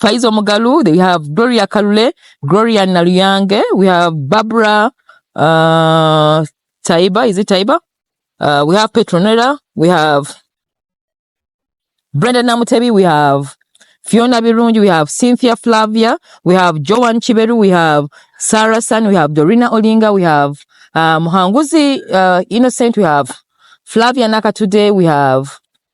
Faizo Mugalu, they have Gloria Kalule, Gloria Naluyange, we have Barbara uh, Taiba, is it Taiba? Uh, we have Petronella, we have Brenda Namutebi, we have Fiona Birungi, we have Cynthia Flavia, we have Joan Chiberu, we have Sarah San, we have Dorina Olinga, we have uh, Muhanguzi uh, Innocent, we have Flavia Naka today, we have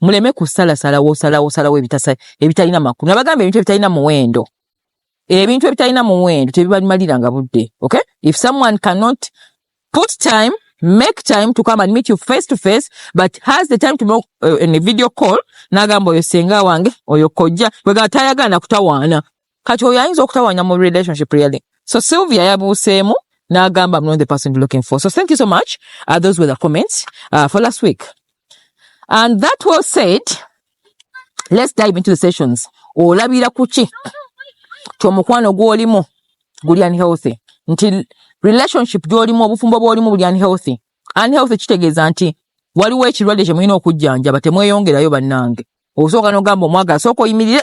muleme kusalasalawo osalawo osalawo ebitasa ebitalina makulu nabagamba ebintu ebitalina muwendo ebintu ebitalina muwendo tebibamaliranga budde okay if someone cannot put time make time to come and meet you face to face but has the time to make uh, in a video call nagamba oyo senga wange oyo kojja wega tayagana kutawana kati oyo ayinza okutawanya mu relationship really so sylvia yabuuseemu n'agamba am not the person looking for so thank you so much uh, those were the comments uh, for last week and that was said let's dive into the sessions olabira kuki kyomukwano gwolimu guli unhealthy nti relationship gyolimu obufumbo bwolimu buli unhealthy unhealthy kitegeeza nti waliwo ekirwadde kyemulina okujjanjaba temweyongerayo bannange osooka nogamba omwagala sooka oyimirire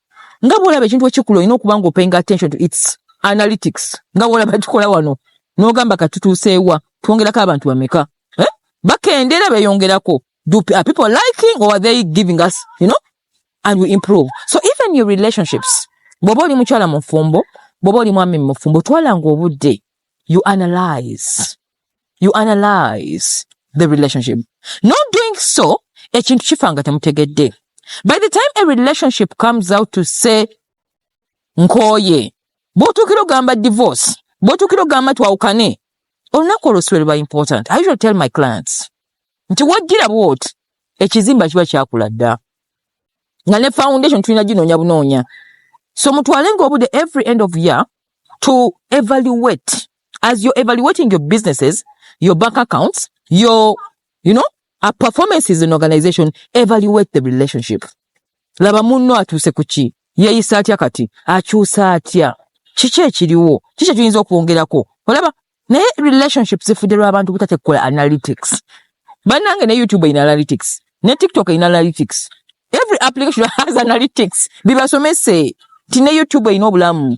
nga bwolaba ekintu ekikulu olina okuba nga opaying attention to its analytics nga bwolaba kikola wano nogamba katutuuseewa twongerako abantu bameka eh? bakendera beyongerako do are people liking or are they giving us you know and we improve so even your relationships bwoba oli mukyala mufumbo bwoba oli mwami mufumbo twalanga obudde you analyze you analyze the relationship not doing so ekintu kifa nga temutegedde by the time a relationship comes out to say nkooye bwotuukira ogamba divorce bwotuukira ogamba twawukane olunaku olwosibe luba important i usually tell my clients nti wojjira bwoti ekizimba kiba kyakula dda nga ne foundation tulina ginoonya bunoonya so mutwale ngaobude every end of year to evaluate as you're evaluating your businesses, your bank accounts, your, you know, our performances in organization, evaluate the relationship. Laba munno atuuse ku ki? Yeeyisa atya kati? Akyusa atya? Kiki ekiriwo? Kiki kye tuyinza okwongerako? Olaba, naye relationship zifudde lw'abantu butatekola analytics. Bannange ne YouTube erina analytics, ne TikTok erina analytics. Every application has analytics. Bibasomese nti ne YouTube erina obulamu.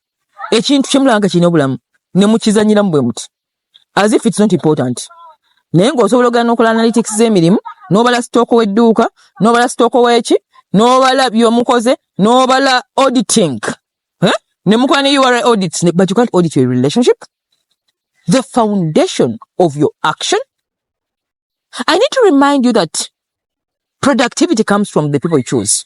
ekintu kyemulaba nga kirina obulamu ne mukizanyiramu bwe muti as if it's not important naye ng'osobola ogenda n'okola analytics z'emirimu n'obala sitooko w'edduuka n'obala sitooko w'eki n'obala by'omukoze n'obala auditing eh? ne mukola ne ura audit but you can't audit your relationship the foundation of your action i need to remind you that productivity comes from the people you choose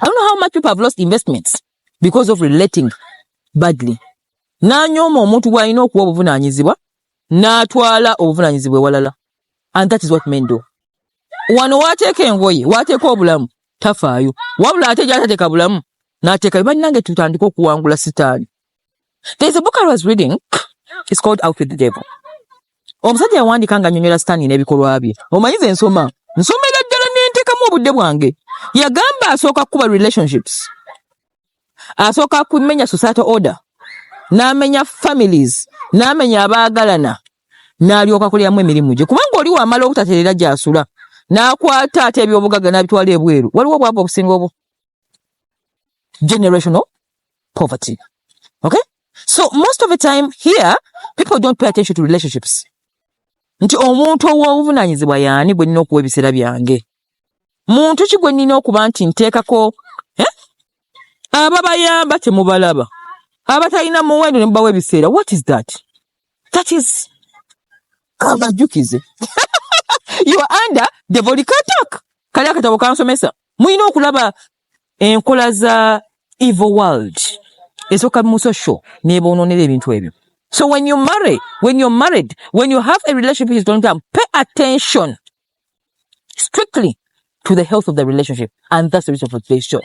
I don't know how much people have lost investments because of relating badly. Nanyooma omuntu gw'alina okuwa obuvunaanyizibwa n'atwala obuvunaanyizibwa ewalala and that is what men do. Wano waateeka engoye waateeka obulamu tafaayo wabula ate gy'atateeka bulamu n'ateekayo bannange tutandike okuwangula sitaani. There's a book I was reading. It's called Out with the Devil. Omusajja yawandiika nga nyonyola sitani n'ebikolwa bye. Omanyi ze nsoma. Nsomera ddala n'entekamu obudde bwange. Yagamba asooka kukuba relationships. Asooka kumenya societal order. N'amenya families. N'amenya abaagalana. N'alyoka kulyamu emirimu gye. Kubanga oli wamala obutatereera gy'asula. N'akwata ate eby'obugagga n'abitwala ebweru. Waliwo obwavu obusinga obwo. generational poverty. Okay? So most of the time here, people don't pay attention to relationships. Nti omuntu ow'obuvunanyizibwa yaani gwe nina okuwa ebiseera byange. Muntu ki gwe nina okuba nti nteekako eh? ababayamba temubalaba abatalina muwendo ne mubawa ebiseera what is that that is abajjukize you are under devolic attack kali akatabo kansomesa mulina okulaba enkola za evil world esoka mu social nebononera ebintu ebyo so when you marry when you're married when you have a relationship with long term pay attention strictly to the health of the relationship and that's the reason for today's show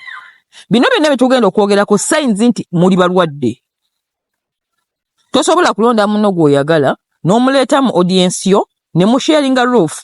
bino byonna byetugenda okwogera ku signs nti muli balwadde tosobola kulonda muno gwoyagala nomuleeta mu audience yo ne musharinga roof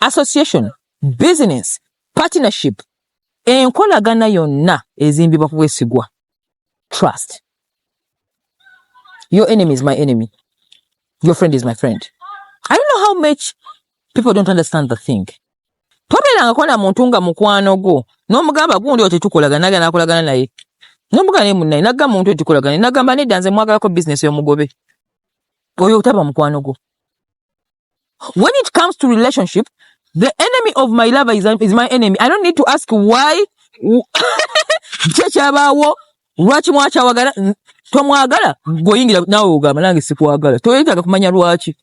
association business partnership enkolagana yonna ezimbibwa ku bwesigwa trust your enemy is my enemy your friend is my friend i don't know how much people don't understand the thing tobeerangako na muntu nga mukwano gwo n'omugamba gundi oyo tetukolagana naga nakolagana naye nomugamba naye munnaye nagamba omuntu oyo tukolagana nagamba nedda nze mwagalako bizinesi y'omugobe oyo otaba mukwano gwo When it comes to relationship, the enemy of my lover is, is my enemy. I don't need to ask why. Kye kyabaawo lwaki mwakyawagala tomwagala gwoyingira nawe ogamba nange sikwagala toyetaga kumanya lwaki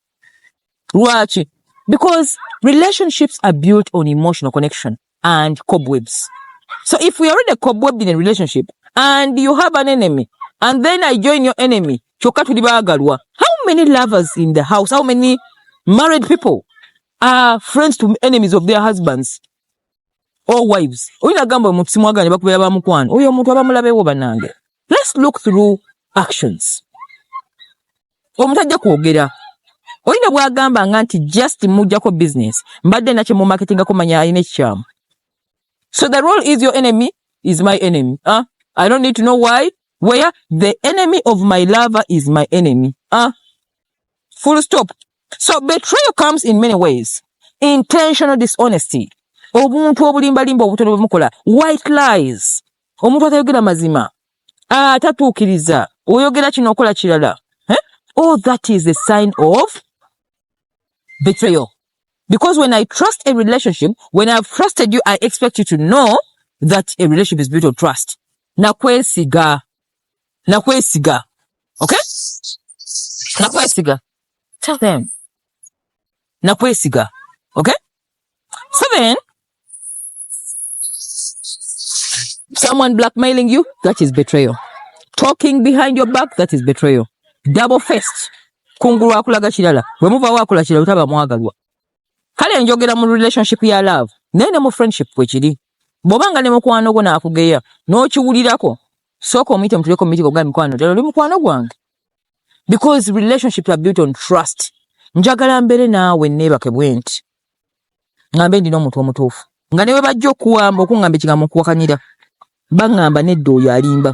lwaki because relationships are built on emotional connection and cobwebs. So if we are already cobwebbed in a relationship and you have an enemy and then I join your enemy, kyokka tuli baagalwa. How many lovers in the house? How many married people are friends to enemies of their husbands? or wives oyina gamba omuntu simwagala ne bakubeera bamukwano oyo omuntu abamulabewo banange let's look through actions omuntu ajja kwogera oyina bwagamba nga nti just mujjako business mbadde nakyo mu marketing akumanya alina ekikyamu so the role is your enemy is my enemy uh, i don't need to know why where the enemy of my lover is my enemy uh, full stop so betrayal comes in many ways intentional dishonesty obuntu obulimbalimba obutono bwemukola white lies omuntu atayogera mazima ah, tatuukiriza oyogera kino okola kirala eh? all that is a sign of betrayal because when i trust a relationship when i've trusted you i expect you to know that a relationship is built on trust nakwesiga nakwesiga okay nakwesiga tell them nakwesiga okay Seven. Someone blackmailing you, that is betrayal. Talking behind your back, that is betrayal. Double faced. Kungulu akulaga kilala. Bwe muva wakula kilala utaba mwagalwa. Kale njogera mu relationship ya love. Naye ne mu friendship bwe kiri. Bwoba nga ne mukwano gwo n'akugeya n'okiwulirako sooka omuyite mutuleko mumiti koga mikwano ddala oli mukwano gwange because relationships are built on trust njagala mbere naawe neebake bwenti ngambe ndina omuntu omutuufu nga newe bajja okuwamba okungamba ekigambo nkuwakanira bangamba nedda oyo alimba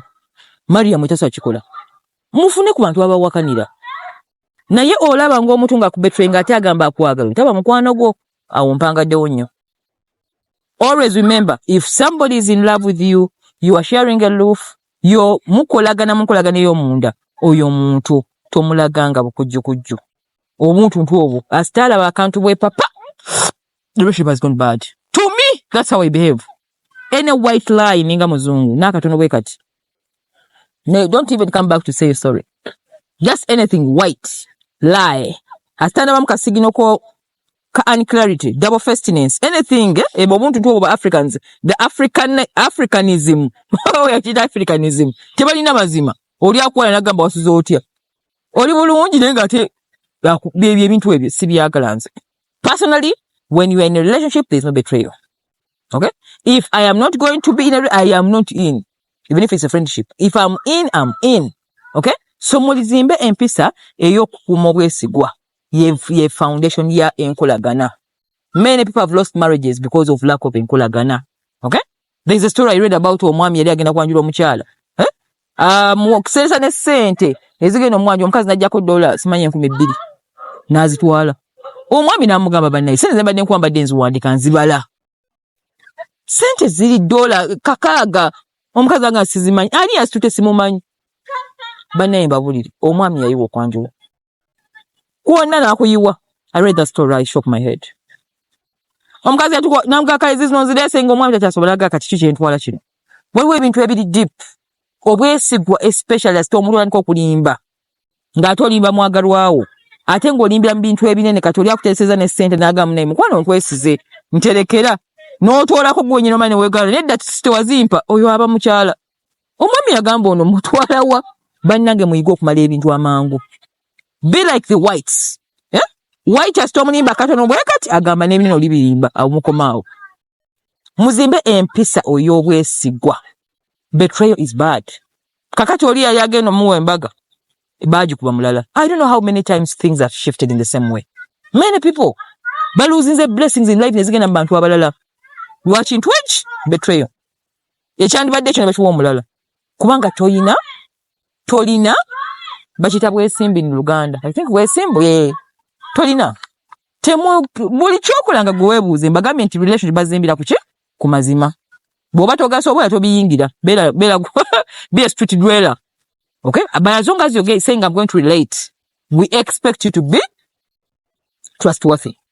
mariam etasobola kikola mufune ku bantu babawakanira naye olaba ngaomuntu nga kubetwe nga ate agamba akwagala ntaba mukwano gwo awo mpangaddewo nnyo always remember if somebody is in love with you you are sharing a loof yo mukolagana munkolagana ey'omunda oyo omuntu tomulaganga bukujjukujju obuntuntu obwo asita alaba akantu bwepapa the relationship has gone bad to me that's how i behave any white lie ninga muzungu n'akatono bwe kati no, don't even come back to say sorry just anything white lie asita nabamu kasigino ko ka unclarity double festness anything eh, ebo obuntu tuobo ba africans the african africanism oh, yakita africanism tebalina mazima oli akwala nagamba wasuza otya oli bulungi naye ngate byebyo ebintu ebyo sibyagala nze personally when you are in a relationship there is no betrayal okay if i am not going to be in a i am not in even if it's a friendship if i'm in i'm in okay so mulizimbe empisa eyokukuuma obwesigwa ye, ye foundation ya enkolagana many people have lost marriages because of lack of enkolagana okay there is a story i read about omwami yali agenda kwanjula omukyala eh? ah, mukiseresa ne sente ezigenda omwanja omukazi najjako dola simanya enkumi ebbiri nazitwala omwami namugamba banaye sente zembadde nkuwa mbadde nziwandika nzibala sente ziri dola kakaaga omukazi anga sizimanyi ani asitute simumanyi banaye mbabulire omwami yayiwa okwanjula kwonna nakuyiwa i read the story i shook my head omukazi yatuka namugaka ezizino nzirese nga omwami takyasobola gaka kiki kyentwala kino waliwo ebintu ebiri deep obwesigwa especially asita omuntu atandika okulimba ng'ate olimba mwagalwawo ate ng'olimbira mu bintu ebinene kati oli akuteeseza ne ssente n'agamu naye mukwano nkwesize nterekera n'otoolako gwenyina omani wegala nedda tewazimpa oyo aba mukyala omwami yagamba ono mutwalawa bannange muyige okumala ebintu amangu be like the whites eh? white asita omulimba katono bwe kati agamba n'ebinene oli birimba amukomaawo muzimbe empisa oy'obwesigwa betrayal is bad kakati oli yali agenda omuwa embaga baagikuba mulala i don't know how many times things have shifted in the same way many people baluzinze blessings in life nezigenda mu bantu abalala lwaki ntu eki betrayal ekyandibadde ekyo nebakiwa omulala kubanga toyina tolina bakita bwesimbi mu luganda i think bwesimbu ye tolina temu buli kyokolanga gwewebuuze mbagambye nti relationship bazimbira kuki ku mazima bwoba togasobola tobiyingira bera bera be a street dweller okay but as long as you're saying i'm going to relate we expect you to be trustworthy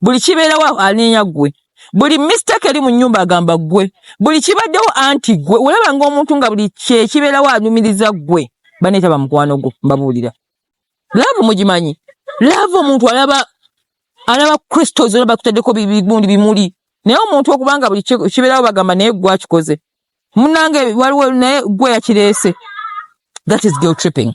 buli kibeerawo anenya gwe buli mistake eri mu nyumba agamba gwe buli kibaddewo anti gwe olaba nga omuntu nga buli kyekibeerawo anumiriza gwe banetaba mukwano gwo mbabuulira laavu mugimanyi laavu omuntu alaba alaba crystals olaba kutaddeko bigundi bimuli naye omuntu okubanga buli kibeerawo bagamba naye gwe akikoze munange waliwo naye gwe yakireese that is guilt tripping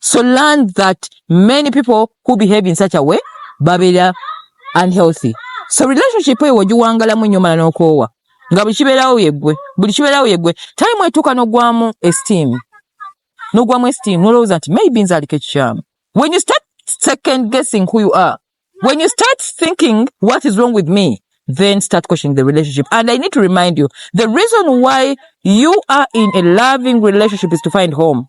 So learn that many people who behave in such a way babera unhealthy. So relationship eyo ogiwangala mu nyuma na okoowa. Nga buli kiberawo yegwe, buli kiberawo yegwe. Time etuka no gwamu esteem. No gwamu esteem, no lowza nti maybe nzali kechichamu. When you start second guessing who you are, when you start thinking what is wrong with me, then start questioning the relationship. And I need to remind you, the reason why you are in a loving relationship is to find home.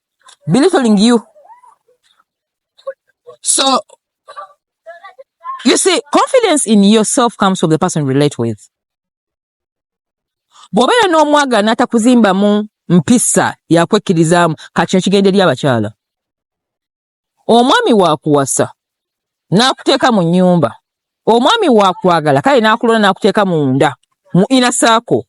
belittling you. So you see, confidence in yourself comes from the person you relate with. bw'obeera n'omwagala n'atakuzimbamu mpisa yakwekkirizaamu kati kino kigenda eri abakyala omwami wakuwasa n'akuteeka mu nnyumba omwami wakwagala kale n'akulona n'akuteeka munda mu ina saako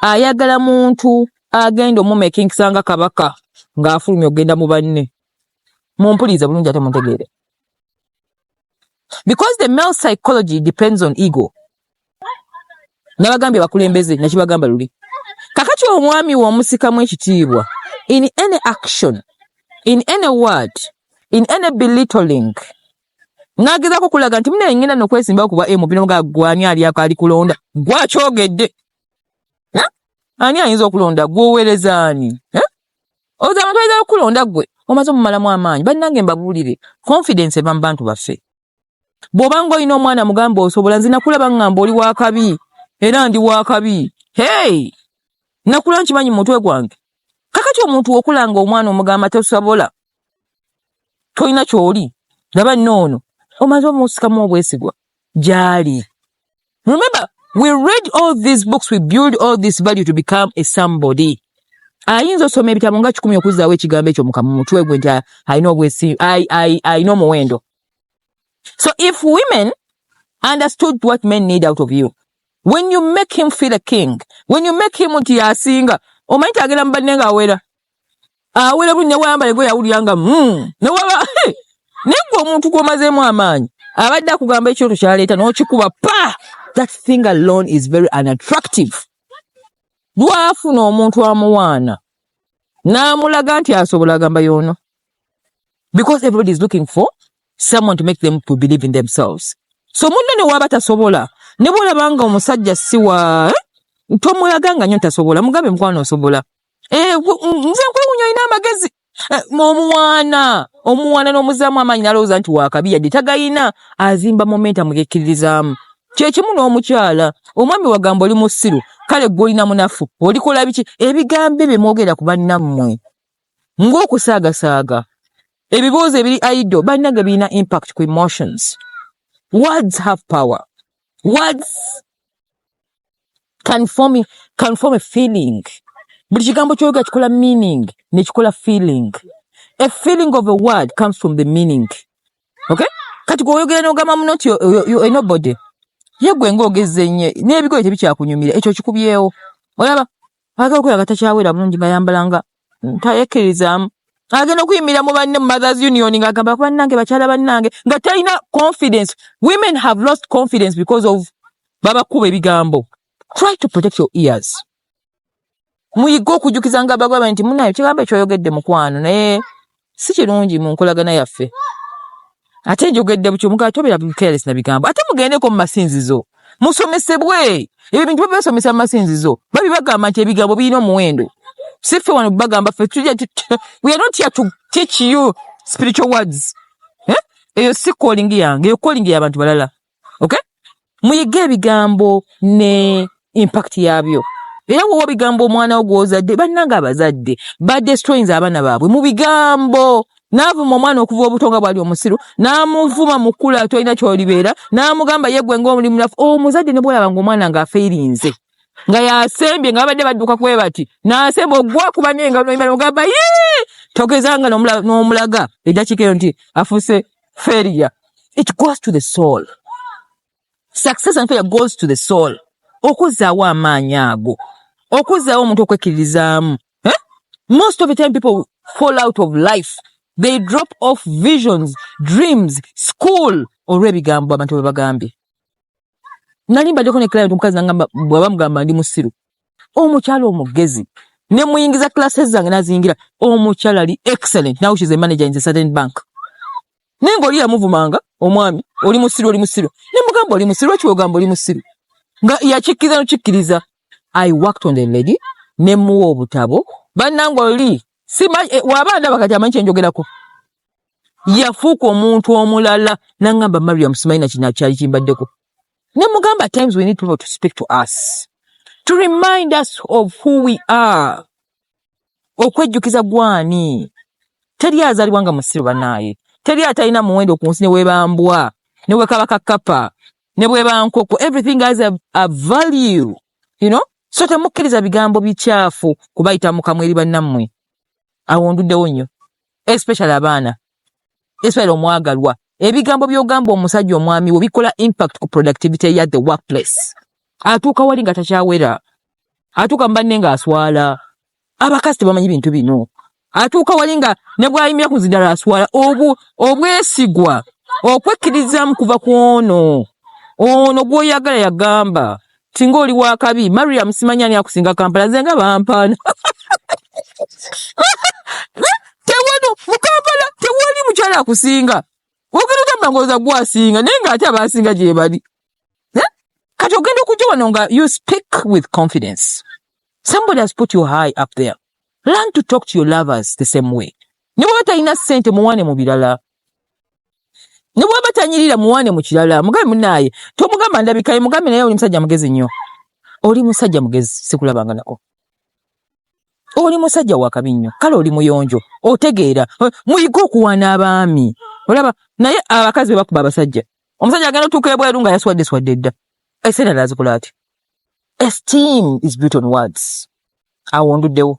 ayagala muntu agenda omumekinkisa nga kabaka ng'afulumya okugenda mu banne mumpuliza bulungi ate muntegeere because the male psychology depends on ego nabagambye bakulembeze nakibagamba luli kakati omwami womusikamu ekitiibwa in any action in any word in any belittling nagezako kulaga nti mune ngenda nokwesimbawo kuba e mubino nga gwani alyako ali kulonda gwakyogedde ani ayinza okulonda gwowereza ani oza abantu ayinza okulonda gwe omaze omumalamu amaanyi bannange mbabuulire confidence eva mu bantu baffe bwoba nga olina omwana mugamba osobola nze nakulaba ngamba oli wakabi era ndi wakabi hey nakula nkimanyi mutwe gwange kakati omuntu wokulanga omwana omugamba tosobola tolina kyoli laba noono omaze omusikamu obwesigwa gyali remember we read all these books we build all this value to become a somebody ayinza osoma ebitabo nga kikumi okuzzaawo ekigambo ekyo mukamu mutwe gwe nti alina obwesi alina omuwendo So if women understood what men need out of you, when you make him feel a king, when you make him nti yasinga, omanyi tagenda mu banne nga awera. Awera bu ne wayambale go yawulira nga mm. Ne waba ne gwo omuntu gw'omazeemu amaanyi abadde akugamba ekyoto kyaleeta n'okikuba pa that thing alone is very unattractive. Lwafuna omuntu amuwaana n'amulaga nti asobola agamba y'ono. because everybody is looking for someone to make them to believe in themselves so munno ne waba tasobola ne bwolaba nga omusajja siwa eh? tomulaga nga nyo tasobola mugambe mukwano osobola eh, nze nkwewunya olina amagezi eh, omuwaana omuwaana n'omuzaamu amaanyi nalowooza nti wakabi yadde tagayina azimba momenta mugekkiririzaamu kyekimu n'omukyala omwami wagamba oli musiru kale gwolina munafu olikola biki ebigambo ebyo mwogera ku bannammwe ng'okusaagasaaga ebibuuzo ebiri idle bannange birina impact ku emotions words have power words can form, can form a feeling buli kigambo kyoyogera kikola meaning nekikola feeling a feeling of a word comes from the meaning okay kati gweoyogera nogamba muno nti nobody ye gwe ngaogezza ennyo n'ebigoye tebikyakunyumira ekyo kikubyewo olaba Agala okulaga takyawera bulungi ngayambala nga tayekkirizaamu agenda okuyimira mu banne mu mothers union nga agamba bannange bakyala bannange nga talina confidence women have lost confidence because of babakuba ebigambo try to protect your ears muyige okujukizanga abagaba nti munaye kigambo ekyoyogedde mukwano naye si kirungi mu nkolagana yaffe ate njogedde butyo mugala tobera careless na bigambo ate mugendeko mu masinzizo musomesebwe ebyo bintu babasomesa mu masinzizo babi bagamba nti ebigambo birina omuwendo siffe wano bagamba ffe tuja we are not here to teach you spiritual words eh? eyo si calling yange eyo calling y'abantu balala okay muyige ebigambo ne impact yabyo era wowa bigambo omwana wo gwozadde bannanga abazadde ba destroyins abaana baabwe mu bigambo n'avuma omwana okuva obuto nga bwali omusiru n'amuvuma mukula tolina kyolibeera n'amugamba yegwe ngaomuli munafu omuzadde ne bwolaba nga omwana ng'afeirinze nga yasembye nga babadde badduka kwe bati n'asemba ogwakuba n'engalo noyimba nomugamba yii togezanga n'omulaga eddakiika eyo nti afuuse failure it goes to the soul success and failure goes to the soul okuzzaawo amaanyi ago okuzzaawo omuntu okwekkiririzaamu eh? most of the time people fall out of life they drop off visions dreams school olw'ebigambo abantu bebagambye nali mbaddeko ne client omukazi nangamba bwaba mugamba ndi musiru omukyala omugezi ne muyingiza classes zange nazingira omukyala ali excellent now she's a manager in the certain bank naye ng'oli yamuvumanga omwami oli musiru oli musiru ne mugamba oli musiru lwaki wogamba oli musiru nga yakikkiriza nokikkiriza i worked on the lady ne muwa obutabo bannange oli eh, waba ndaba kati amanyi kyenjogerako yafuuka omuntu omulala nangamba mariam simanyi nakinakyali kimbaddeko ne mugamba times we need people to speak to us to remind us of who we are okwejjukiza gwani teri azalibwa nga musiru banaye teri atalina muwendo ku nsi newebambwa newekaba kakapa nebweba nkoko everything has a, a value you know so temukkiriza bigambo bikyafu kubayita mukamwa eri bannammwe awo nduddewo nnyo especially abaana Israel omwagalwa ebigambo byogamba omusajja omwami wo bikola impact ku productivity ya the workplace atuuka wali nga takyawera atuuka mubanne nga aswala abakazi tebamanyi bintu bino atuuka wali nga ne bwayimira ku zidala aswala obu obwesigwa okwekkirizamu kuva ku ono ono gwoyagala yagamba Singa oli wa kabi, Mariam simanyi ani akusinga Kampala, nze nga bampaana. Tewano, mu Kampala, tewali mukyala akusinga. Ogenda ogamba ng'oza gwe asinga, naye ng'ate abaasinga gye bali. Eh? Kati ogenda okujja wano nga you speak with confidence. Somebody has put you high up there. Learn to talk to your lovers the same way. Ne bw'oba talina ssente muwane mu birala. ne bwaba tanyirira muwane mu kirala mugambe munaaye tomugamba ndabikaye mugambe naye oli musajja mugezi nnyo oli musajja mugezi sikulabanga nako oli musajja wakabi nnyo kale oli muyonjo otegeera muyige okuwaana abaami olaba naye abakazi be bakuba abasajja omusajja agenda otuuka ebweru nga yaswadde swadde dda eseera nazikola ati esteem is built on words awonduddewo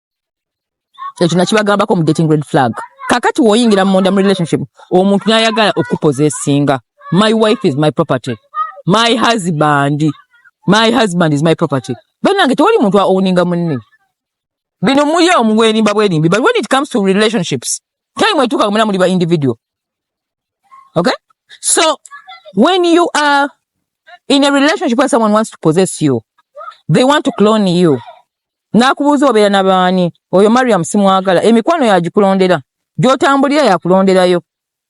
ekyo nakibagambako mu dating red flag kakati woyingira munda mu relationship omuntu nayagala okupozesinga my wife is my property my husband my husband is my property banange tewali muntu aowninga munne bino mulya omubwerimba bwerimbi but when it comes to relationships time etuuka wemuna muli ba individual okay so when you are in a relationship where someone wants to possess you they want to clone you n'akubuuza obeera na baani oyo mariam simwagala emikwano yagikulondera gy'otambulira yakulonderayo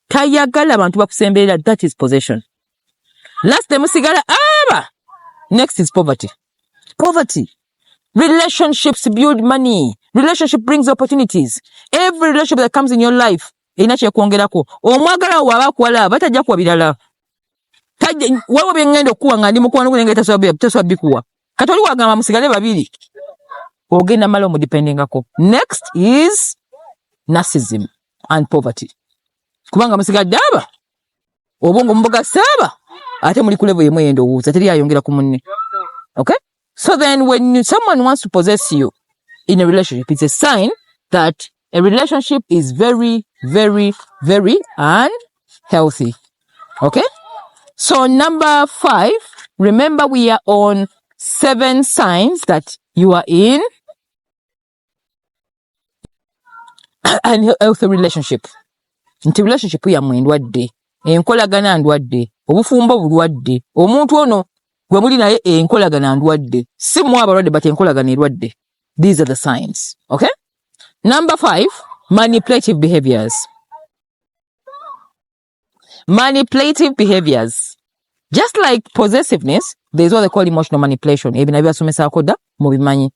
tayagala bantu bakusemberera that is possession last temusigala aba next is poverty poverty relationships build money relationship brings opportunities every relationship that comes in your life erina kyekwongerako omwagala wo waaba akuwala batajja kuwa birala waliwo bye ŋŋenda okukuwa nga ndi mukwano gwe nenga taswa bikuwa kati oli wagamba musigale babiri ogenda mala omudipendingako next is narcissism and poverty kubanga musigadde aba obwongo mubuga saaba ate muli kulevo yemu eyendowooza teri ayongera ku munne okay so then when someone wants to possess you in a relationship it's a sign that a relationship is very very very and healthy. Okay? So, number five, remember we are on seven signs that you are in an healthy relationship. Nti relationship ya mwe ndwadde, enkolagana ndwadde, obufumbo bulwadde, omuntu ono gwe muli naye enkolagana ndwadde, si mwa abalwadde but enkolagana erwadde. These are the signs. Okay? Number five, manipulative behaviors. manipulative behaviors just like possessiveness there is what they call emotional manipulation ebyo nabyo basomesaako dda mubimanyi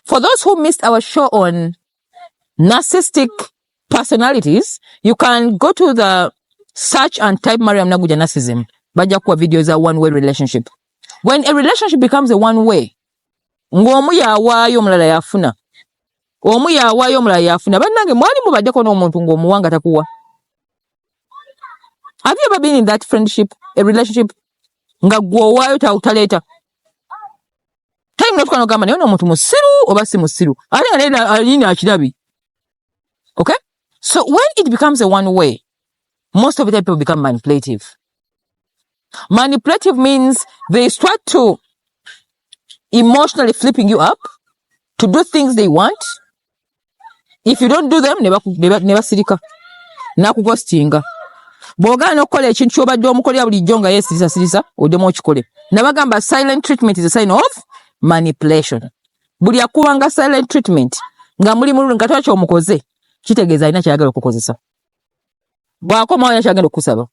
for those who missed our show on narcissistic personalities you can go to the search and type mariam naguja narcissism bajja kuwa video za one way relationship when a relationship becomes a one way ng'omu yawaayo omulala yafuna omu yawaayo omulala yafuna bannange mwali mubaddeko n'omuntu ng'omuwa nga takuwa have you ever been in that friendship a relationship nga gwowaayo taleeta time notuka nogamba naye nomuntu musiru oba si musiru ate nga naye alina akirabi okay so when it becomes a one way most of the people become manipulative Manipulative means they start to emotionally flipping you up to do things they want if you don't do them ne basirika nakugostinga bwogana nokukola ekintu kyobadde omukolera bulijjo nga yesirisasirisa odemu okikole nabagamba silent treatment is a sign of manipulation buli akubanga silent treatment nga muli mululu nga toa kyomukoze kitegeeza alina kyayagala okukozesa bwakomawo alina kyagenda okukusaba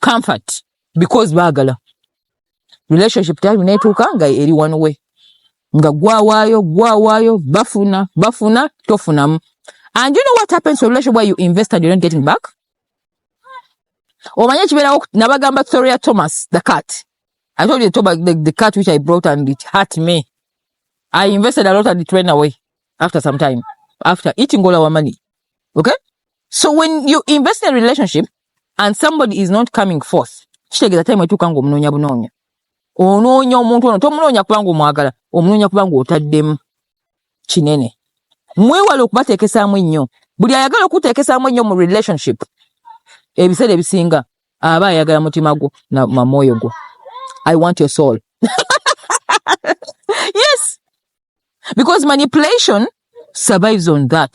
comfort because bagala relationship time netuuka nga eri one way nga gwawaayo gwawaayo bafuna bafuna tofunamu and you know what happens to relation where you invest and you're not getting back omanye kibeerawo nabagamba story ya thomas the cat i told you the, the, the cat which i brought and it hurt me i invested a lot and it ran away after some time after eating all our money okay so when you invest in a relationship and somebody is not coming forth kitegeeza time etuuka nga omunoonya bunoonya onoonya omuntu ono tomunoonya kubanga omwagala omunoonya kubanga otaddemu kinene mwewale okubateekesaamu ennyo buli ayagala okuteekesaamu ennyo mu relationship ebiseera ebisinga aba ayagala mutima gwo na mamwoyo gwo i want your soul yes because manipulation survives on that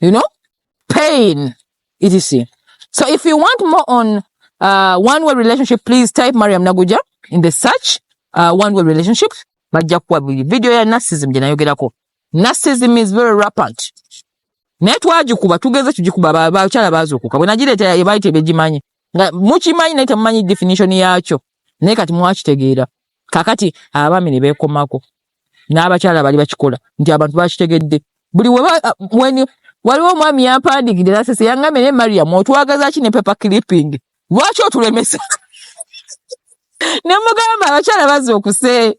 you know pain etc so if you want more on uh, one way relationship please type mariam naguja in the search uh, one way relationship bajja kuwa video ya narcissism gye nayogerako narcissism is very rampant naye twagikuba tugeze tugikuba bakyala bazuukuka bwe nagireeta ebaite begimanyi nga mukimanyi naye temumanyi definition yaakyo naye kati mwakitegeera kakati abaami ne beekomako n'abakyala bali bakikola nti abantu bakitegedde buli weni waliwo omwami yampandiikidde nasese yangambye naye mariam otwagaza ki ne pepa clipping lwaki otulemesa ne mugamba abakyala bazi okuse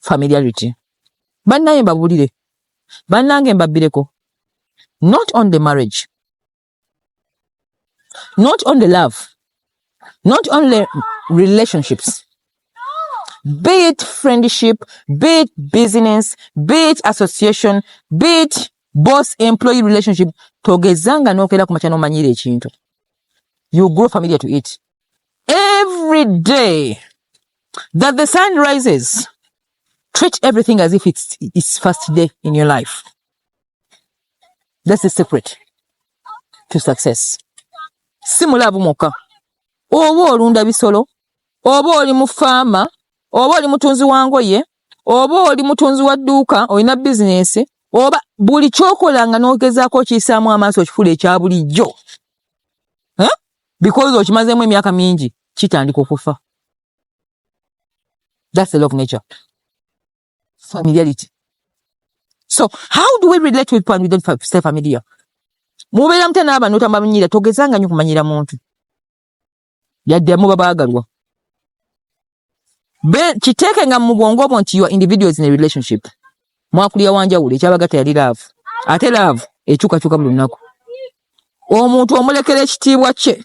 familiarity bannaye mbabulire bannange mbabbireko not on the marriage not on the love not only relationships be it friendship be it business be it association be it boss employee relationship togezanga nokeera ku makya nomanyiira ekintu you grow familiar to it every day that the sun rises treat everything as if it's its first day in your life that's the secret to success si mulaabu mwokka oba olunda bisolo oba oli mu faama oba oli mutunzi wa ngoye oba oli mutunzi wa dduuka olina bizinensi oba buli kyokola nga nogezaako okiyisaamu amaaso okifula ekya bulijjo because okimazeemu emyaka mingi kitandika okufa that's the law of nature familiarity so how do we relate with people and we don't stay familiar mubeera mutya n'abantu notamanyira togezanga nyo kumanyira muntu yadde muba baagalwa kiteeke nga mu bwongo obwo nti your individuals in a relationship mwakulira wanjawulo ekyabaga teyali laavu ate laavu ekyukakyuka buli lunaku omuntu omulekera ekitiibwa kye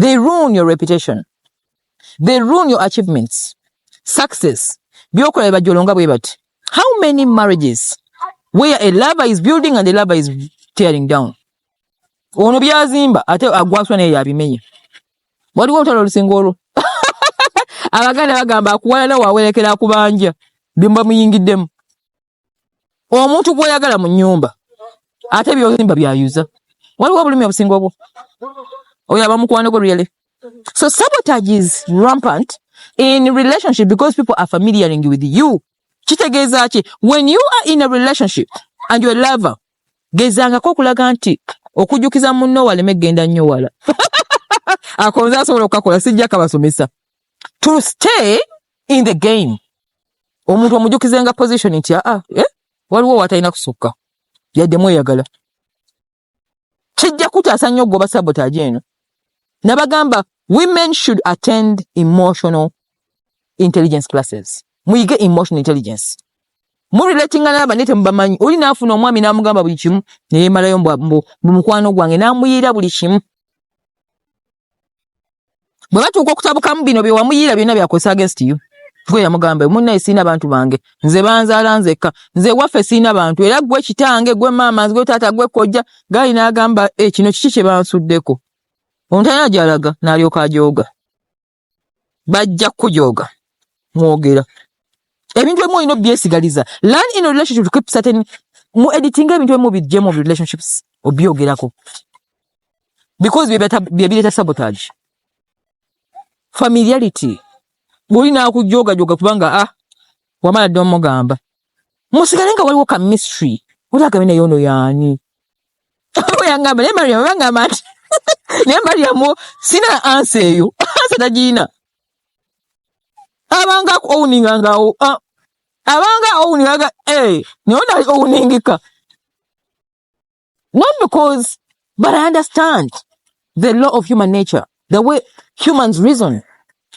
they ruin your reputation they ruin your achievements success byokola bebajolonga bwe bati how many marriages where a lover is building and a lover is tearing down ono byazimba ate agwaswa naye yabimenya waliwo olutalo olusinga olwo abaganda bagamba akuwalana wawerekera kubanja bimba muyingiddemu omuntu gwoyagala mu nyumba ate byozimba byayuza waliwo obulumi obusinga obwo oyo aba mukwano gwo really so sabotage is rampant in relationship because people are familiaring with you kitegeeza ki when you are in a relationship and your lover gezangako okulaga nti okujjukiza munno waleme genda nnyo wala akonze asobola okukakola sijja kabasomesa to stay in the game omuntu omujukize nga position nti aa ah, eh? waliwo watalina kusukka yadde mweyagala kijja kutaasa nnyo gwe oba sabotage eno nabagamba women should attend emotional intelligence classes muyige emotional intelligence murelatinga naba nete mubamanyi oli nafuna omwami namugamba buli kimu neyemalayo mbu mukwano gwange namuyiira buli kimu bwe batuuka okutabukamu bino bye wamuyiira byonna byakozesa against you gwe yamugamba munnaye sirina bantu bange nze banzaala nzekka nze ewaffe sirina bantu era gwe kitange gwe maama nzigwe taata gwe kojja gaali n'agamba e kino kiki kye bansuddeko ontana gyalaga n'alyoka ajooga bajja kukujooga mwogera ebintu ebimu olina obyesigaliza learn in relationship to keep certain mu editing ebintu ebimu bijje mu relationships obyogerako because byebireeta sabotage familiarity buli nakujogajoga kubanga ah wamala dde omugamba musigale nga waliwo ka mystery oli agabe naye ono yaani yangamba naye mariam bangamba nti naye mariam sina ansa eyo ansa tagirina abanga aku owuninga ngawo ah, abanga owuninga eh, naye ono ali owuningika Not because, but I understand the law of human nature, the way humans reason,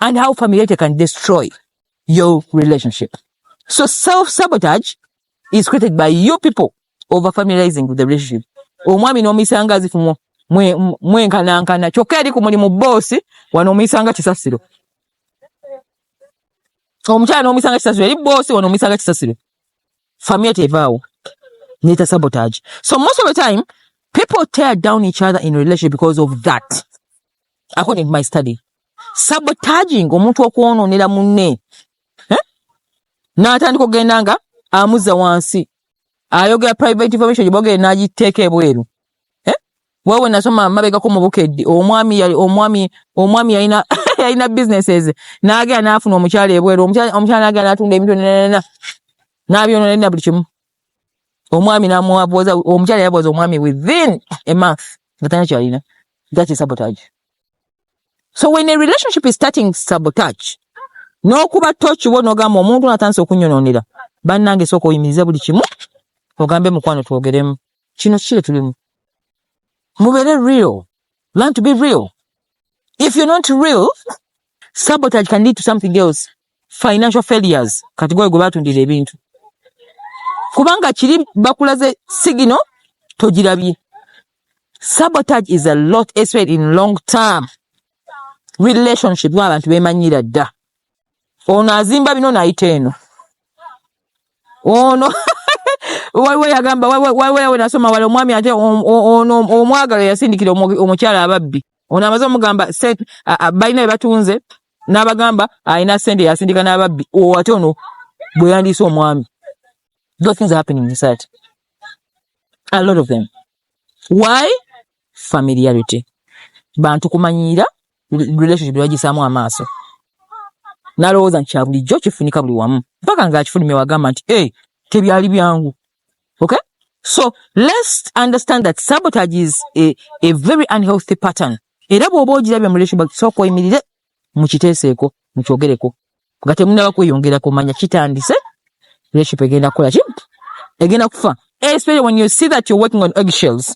and how familiarity can destroy your relationship. So self sabotage is created by you people over familiarizing with the relationship. Omwami n'omisanga azifu mwenkanankana kyokka eri ku mulimu boosi wano omisanga kisasiro. Omukyala n'omisanga kisasiro eri boosi wano omisanga kisasiro. family tevaawo neta sabotage so most of the time people tear down each other in relationship because of that according to my study sabotaging omuntu okwononera munne eh? natandika okugenda nga amuza wansi ayogera private information gyebogere nagiteeka ebweru Wewe we nasoma mabega ko mu Bukedde omwami yali omwami omwami yalina yalina businesses n'agenda n'afuna omukyala ebweru omukyala omukyala n'agenda n'atunda ebintu nenenena n'abyonona na buli kimu omwami n'amuwabooza omukyala yabooza omwami within a month nga tanya kyalina that is sabotage so when a relationship is starting sabotage n'okuba toki wo n'ogamba omuntu n'atandise okunyononera bannange sooka oyimirize buli kimu ogambe mukwano twogeremu kino kiki etulimu mubere real learn to be real if you're not real sabotage can lead to something else financial failures kati gwe gwe batundira ebintu kubanga kiri bakulaze sigino togirabye sabotage is a lot especially in long term relationship abantu bemanyira dda ono azimba bino nayita eno ono waliwo yagamba waliwo yawe nasoma wala omwami ate ono omwagalo yasindikira omukyala ababbi ono amaze omugamba balina bebatunze n'abagamba alina sente yasindika n'ababbi ate ono bwe yandiise omwami those things are happening in society a lot of them why familiarity bantu kumanyiira relationship yagisaamu amaaso nalowooza nti kyabulijjo kifunika buli wamu mpaka nga akifulumya wagamba nti e tebyali byangu okay so let's understand that sabotage is a, a very unhealthy pattern era bwoba ogirabye mu relationship sooka oyimirire mukiteeseeko mukyogereko nga temunaba kweyongera kumanya kitandise relationship egenda kukola ki egenda kufa especially when you see that you're working on eggshells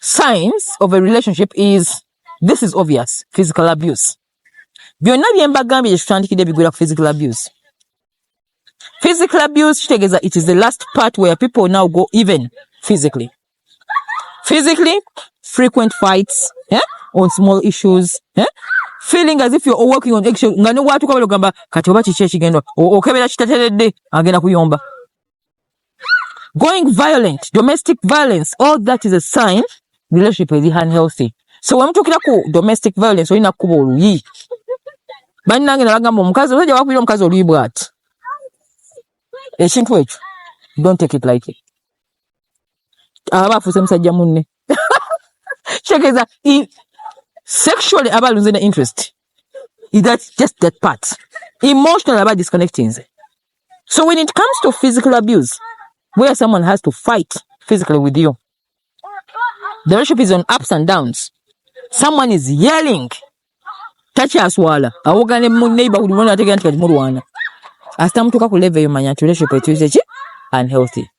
signs of a relationship is this is obvious physical abuse byonna bye mbagambye gye tutandikidde bigwera ku physical abuse physical abuse kitegeeza it is the last part where people now go even physically physically frequent fights eh? on small issues eh? feeling as if you're working on action nga newatuka balogamba kati oba kiki ekigendwa okebera kitateredde agenda kuyomba going violent domestic violence all that is a sign relationship is unhealthy so wemutukira ku domestic violence olina kukuba oluyi banange nabagamba omukazi osaja wakubira omukazi oluyi bwati ekintu ekyo don't take it like it aba afuuse musajja munne kitegeeza sexually aba alunze ne interest is that just that part emotional aba disconnectinze So when it comes to physical abuse, where someone has to fight physically with you, the relationship is on ups and downs. Someone is yelling. takyaswala awogana ne mu neighborhood bona ategera nti kati mulwana asita mutuuka ku level eyo manya nti relationship etuuse ki unhealthy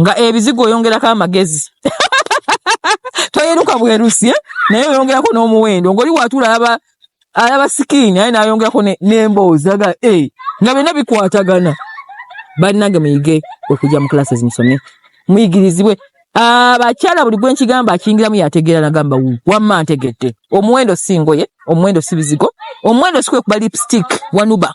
nga ebizigo oyongerako amagezi toyeruka bwerusi eh? naye oyongerako n'omuwendo ngoli watula alaba alaba sikini aye nayongerako n'emboozi aga e eh, nga byonna bikwatagana banange muyige okujja mu classes musome muyigirizibwe abakyala ah, buli gwenkigamba akingiramu yategeera nagamba wamma ntegedde omuwendo si ngoye omuwendo si bizigo omuwendo si kwekuba lipstick wanuba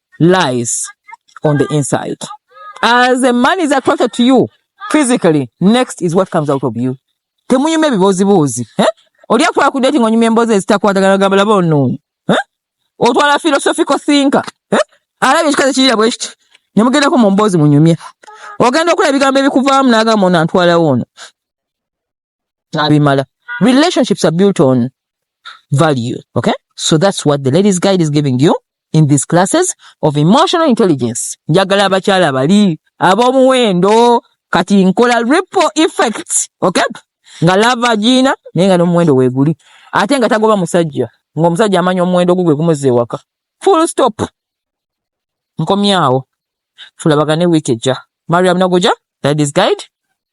lies on the inside. As a man is attracted to you physically, next is what comes out of you. Temunyume bibozi bozi. Eh? Oli akwa kudeti ngonyume mbozi ezitakwata gamba laba ono. Eh? Otwala philosophical thinker. Eh? Alabi ekikazi kirira bwekiti. Ne mugenda ko mu mbozi munyumye. Ogenda okula bigambo ebikuvaamu n'agamba ono antwala ono. tabimala relationships are built on value okay so that's what the ladies guide is giving you in these classes of emotional intelligence njagala abakyala bali abomuwendo kati nkola ripple effect okay nga lava jina naye nga nomuwendo weguli ate nga tagoba musajja ngaomusajja amanya omuwendo gugwe gumuza ewaka full stop nkomyawo tulabagane wiiki ejja mariam naguja ladies guide